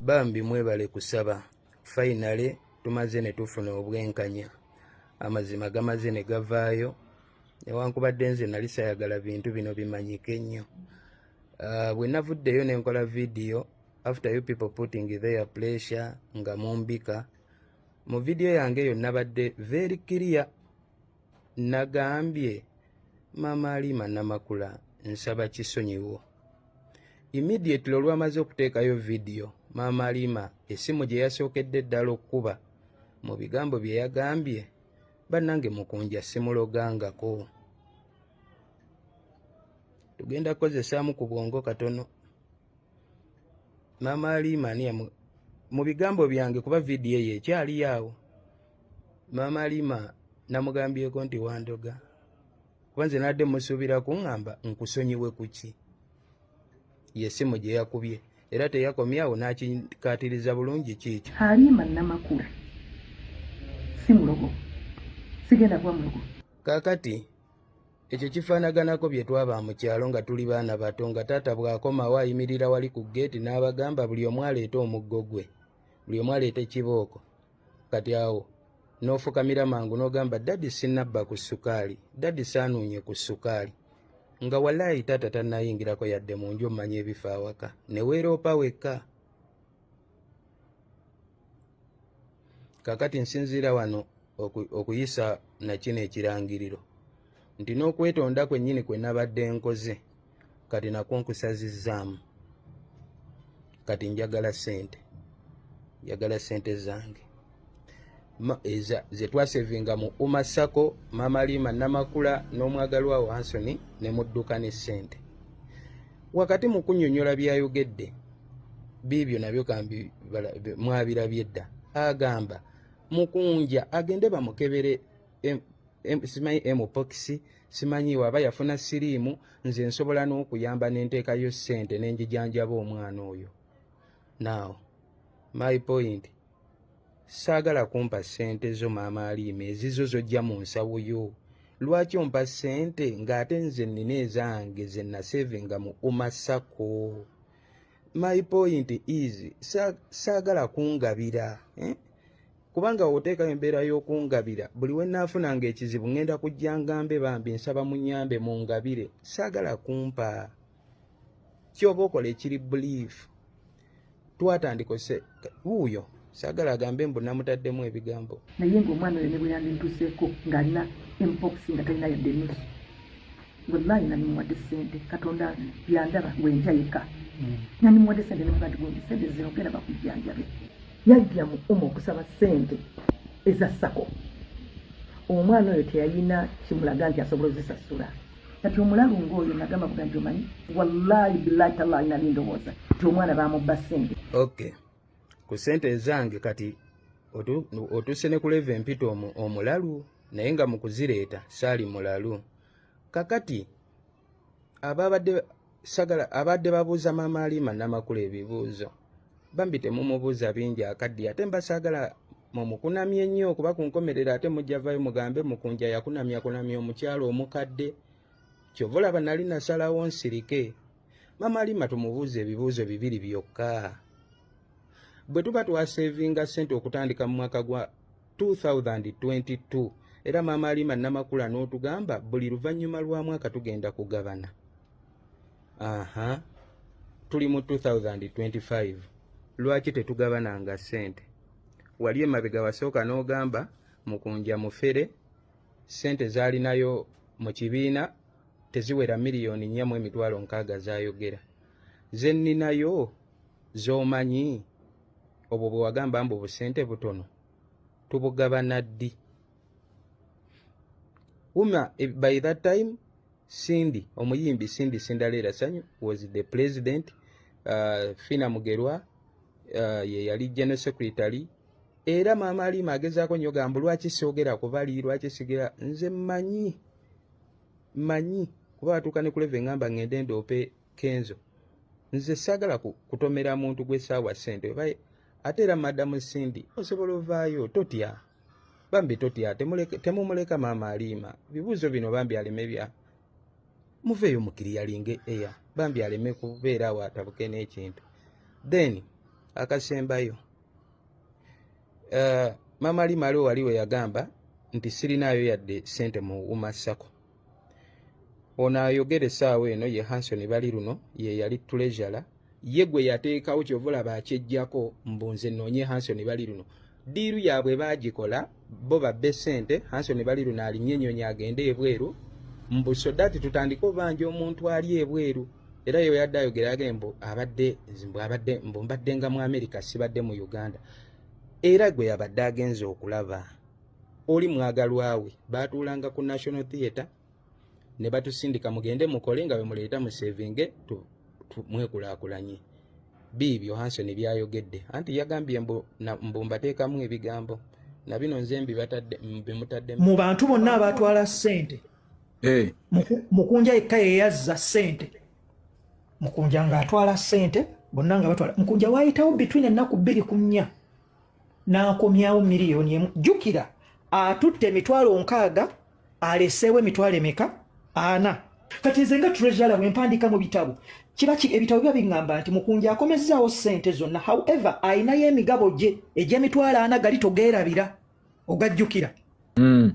bambi mwebale kusaba fainale tumaze ne tufuna obwenkanya amazima gamaze ne gavaayo newankubadde nze nali sayagala bintu bino bimanyike nnyo uh, bwe navuddeyo nenkola vidiyo after you people putting their pressure nga mumbika mu vidiyo yange eyo nabadde very clear nagambye mama alima namakula nsaba kisonyiwo immediately olwamaze okuteekayo vidiyo mama alima esimu gye yasookedde ddala okukuba mu bigambo bye yagambye bannange mukunja simulogangako tugenda kukozesaamu ku bwongo katono maama aliima ani yamu mu bigambo byange kuba vidiyo eyo ekyaliyo awo maama aliima namugambyeko nti wandoga kuba nze nadde musuubira kuŋŋamba nkusonyiwe kuki yesimu gye yakubye era teyakomyawo n'akikaatiriza bulungi kiikyo aliima namakula si mulogo sigenda kuba mulogo kakati Ekyo kifaanaganako bye twaba mu kyalo nga tuli baana bato nga taata bw'akomawo ayimirira wali ku ggeeti n'abagamba buli omu aleete omuggo gwe buli omu aleeta ekibooko kati awo n'ofukamira mangu n'ogamba dadi sinabba ku ssukaali dadi saanuunye ku ssukaali nga walaayi taata tannayingirako yadde mu nju omanya ebifa awaka ne weeroopa wekka kakati nsinziira wano okuyisa nakino ekirangiriro nti n'okwetonda kwennyini kwe nabadde nkoze kati nakwo nkusazizzaamu kati njagala ssente njagala ssente zange ze twasevinga mu uma sako mama lima namakula n'omwagalwa wo ansoni ne mudduka ne ssente wakati mu kunyonyola byayogedde biibyo nabyo kambi mwabirabye dda agamba mukunja agende bamukebere simanyi mpox simanyi waba yafuna siriimu nze nsobola n'okuyamba nenteekayo ssente nenjijanjaba omwana oyo now my point saagala kumpa ssente zo maama aliima ezizo zojja mu nsawo yo lwaki ompa ssente ng'ate nze nnina ezange ze nasevinga mu umasako my point is saagala kungabira eh? kubanga oteekayo embeera y'okungabira buli we naafuna ng'ekizibu ŋŋenda kujja ngambe bambi nsaba munyambe mungabire saagala kumpa kyoba okola ekiri believe twatandika ose wuuyo sagala agambe mbu namutaddemu ebigambo naye nga omwana oyo nebweyandintuseeko ngaalina mpox nga talina yadde nusu wallahi nanimuwadde sente katonda yandaba wenja yeka mm. nanimuwadde sente nemugati gundi sente zinogera bakujjanjabe yajja mu uma okusaba sente eza sako omwana oyo teyalina kimulaga nti asobola ozisasula kati omulalu ngaoyo nagamba buga nti omanyi wallahi bilahi talahi nali ndowooza nti omwana bamubba sente ok ku sente ezange kati otuuse ne kuleva empita omulalu naye nga mukuzireeta saali mulalu kakati ababadde sagala abadde babuuza maama alima namakula ebibuuzo bambi temumubuuza bingi akaddiye ate mbasaagala mumukunamye ennyo kuba ku nkomerero ate mujjavayo mugambe mukunja yakunamya kunamya omukyalo omukadde kyova olaba nali nasalawo nsirike maama alima tumubuuza ebibuuzo bibiri byokka bwe tuba twaseevinga ssente okutandika mu mwaka gwa 2022 era maama alima namakula n'otugamba buli luvannyuma lwa mwaka tugenda kugabana aha tuli mu 2025 lwaki tetugabananga ssente wali emabega wasooka n'ogamba mukunja mufere ssente zaalinayo mu kibiina teziwera miliyoni nnya mu emitwalo nkaaga zayogera zenninayo z'omanyi obwo bwe wagamba mbu obusente butono tubugabana ddi uma eh, by that time cindy omuyimbi cindy sindaleera sanyu was the president uh, fina mugerwa uh, ye yali general secretary era maama aliima agezaako nyo gambu lwaki siogera kubali lwaki sigera nze manyi manyi kuba batuuka ne kuleva engamba ngende ndoope kenzo nze sagala kutomera muntu gwe sawa sente baye ate era madam cindy osobola ovaayo totya bambi totya temumuleka maama aliima bibuuzo bino bambi aleme bya muveeyo mukiriyalinge eya bambi aleme kubeera awo atabuke n'ekintu then akasembayo uh, maama aliima aliwo wali we yagamba nti sirinaayo yadde sente mu umasako ono ayogera essaawa eno ye hanson bali luno ye yali tulezala ye gwe yateekawo kyova olaba akyejjako mbu nze noonye hanson bali luno diiru yaabwe baagikola bo babbe ssente hanson bali luno alinye ennyonyi agende ebweru mbu sodati tutandike obanja omuntu ali ebweru era yo yadde ayogera age mbu abadde mbu abadde mbu mbaddenga mu amerika sibadde mu uganda era gwe yabadde agenza okulaba oli mwagalwawe baatuulanga ku national theatre ne batusindika mugende mukole nga bwemuleeta musevinge mwekulaakulanye biibyo hanson byayogedde anti yagambye mbumbateekamu ebigambo na bino nze mbimutadde mu bantu bonna abaatwala ssente eh. mukunja yekka yeyazza ssente mukunja ng'atwala ssente bonna nga batwala mukunja waayitawo bitwin ennaku bbiri ku nnya n'akomyawo miliyoni emu jjukira atutte emitwalo nkaaga aleseewo emitwalo emeka ana kati nze nga treasure bwe mpandiika mu bitabo kiba ki ebitabo biba biŋŋamba nti mukunja akomezzaawo ssente zonna however alinayo emigabo gye egy'emitwalo ana gali togeerabira ogajjukira mm.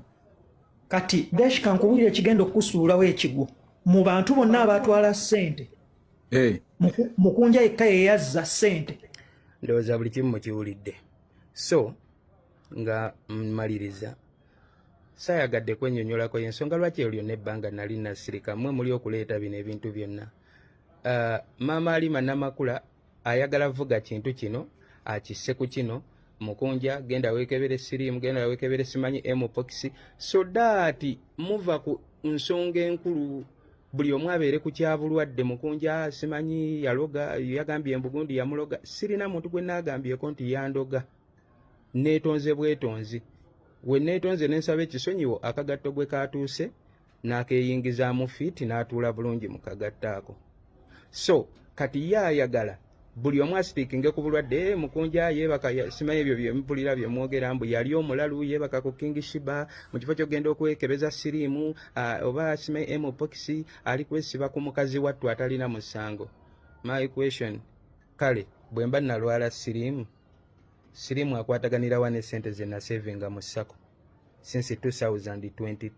kati deshka nkubulira ekigenda okukusuulawo ekigwo mu bantu bonna abatwala ssente eh. mukunja yekka yeyazza sente ndowooza buli kimu mukiwulidde so nga mmaliriza saayagadde kwenyonyolako yensonga lwaki eyo lyonna ebbanga nali nasirika mwe muli okuleeta bino ebintu byonna uh, maama alima namakula ayagala vuga kintu kino akisse ku kino mukunja genda wekebere sirimu genda wekebere simanyi emupokisi so daati muva ku nsonga enkulu buli omu abeere ku kyabulwadde mukunja simanyi yaloga yagambye embugundi yamuloga sirina muntu gwe naagambyeko nti yandoga neetonze bwetonzi we neetonze ne nsaba ekisonyiwo akagatto gwe kaatuuse n'akeeyingizaamu fiiti n'atuula bulungi mu kagattaako so kati ye ayagala buli omu asipikinge ku bulwadde eh, mukunja yeebaka simanyi ebyo byempulira byemwogera mbu yali omulalu yeebaka ku king shiba mu kifo kyokugenda okwekebeza siriimu ah, oba simanyi mpox ali kwesiba ku mukazi wattu atalina musango my question kale bwe mba nalwala siriimu siriimu akwataganirawa ne sente ze nasevinga mu sako since 2022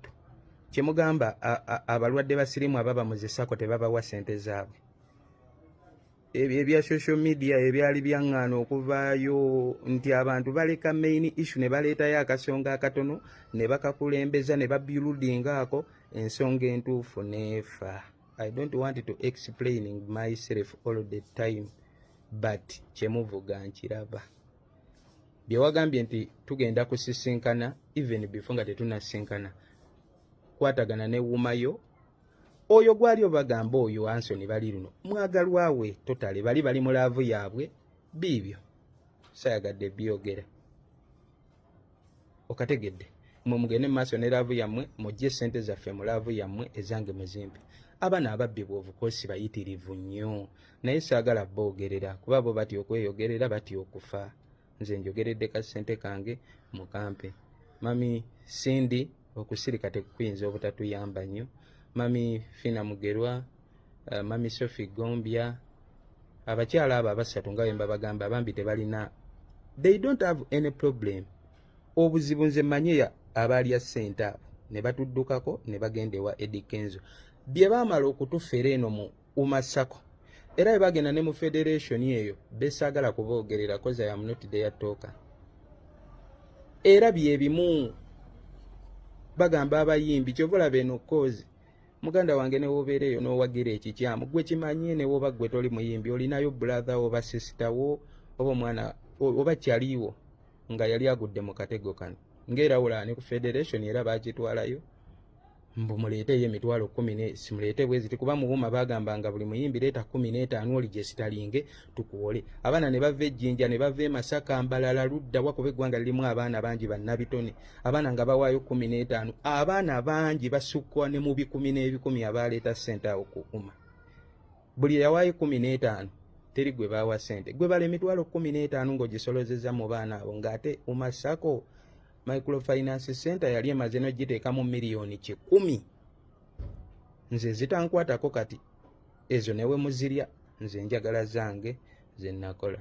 kyemugamba abalwadde ba siriimu ababa muzisako tebabawa sente zaabwe ebyo ebya social media ebyali byaŋŋaana okuvaayo nti abantu baleka main issue ne baleetayo akasonga akatono ne bakakulembeza ne babyuludinga ako ensonga entuufu neefa i don't want to explaining myself all the time but kyemuvuga nkiraba byewagambye nti tugenda kusisinkana even before nga tetunasinkana kwatagana ne wumayo oyo gwali obagamba oyo ansoni bali luno mwagalwawe totale bali bali mu laavu yaabwe biibyo sayagadde byogera okategedde mwe mugende mumaaso ne laavu yammwe mujje sente zaffe mu laavu yammwe ezange muzimbi abana ababbi bwovukosi bayitirivu nnyo naye saagala boogerera kuba bo batya okweyogerera batya okufa nze njogeredde ka ssente kange mukampe mami sindi okusirika tekukuyinza obutatuyamba nnyo mami fina mugerwa uh, mami sofi gombya abakyala abo abasatu nga wemba bagamba bambi tebalina they don't have any problem obuzibu nze manye abaalya ssente abo ne batuddukako ne bagenda ewa edi kenzo bye baamala okutufera eno mu Uma Sako era bwe bagenda ne mu federation eyo besaagala kuboogerera koza ya munoti deyatooka era byebimu bagamba abayimbi kyova olaba eno kozi muganda wange newobeera eyo nowagira ekikyamu gwe kimanye newoba gwe toli muyimbi olinayo bulatha oba sisita wo oba omwana oba kyaliwo nga yali agudde mu katego kano ngaera wulaani ku federation era bakitwalayo mbu muleeteyo emitwalo kumi ne simuleete bwe ziti kuba muwuma baagambanga buli muyimbi leeta kumi n'etaano oli gye sitalinge tukuwole abaana ne bava ejjinja ne bava emasaka mbalala ludda wakuba eggwanga lirimu abaana bangi bannabitone abaana nga bawaayo kumi n'etaano abaana bangi basukkwa ne mu bikumi n'ebikumi abaaleeta ssente awo kukuma buli yawaayo ekumi n'etaano teri gwe baawa ssente gwe bala emitwalo kumi n'etaano ng'ogisolozeza mu baana abo ng'ate umasako microfinance center yali emaze nogiteekamu miliyoni kikumi nze zitankwatako kati ezo newe muzirya nze njagala zange zenakola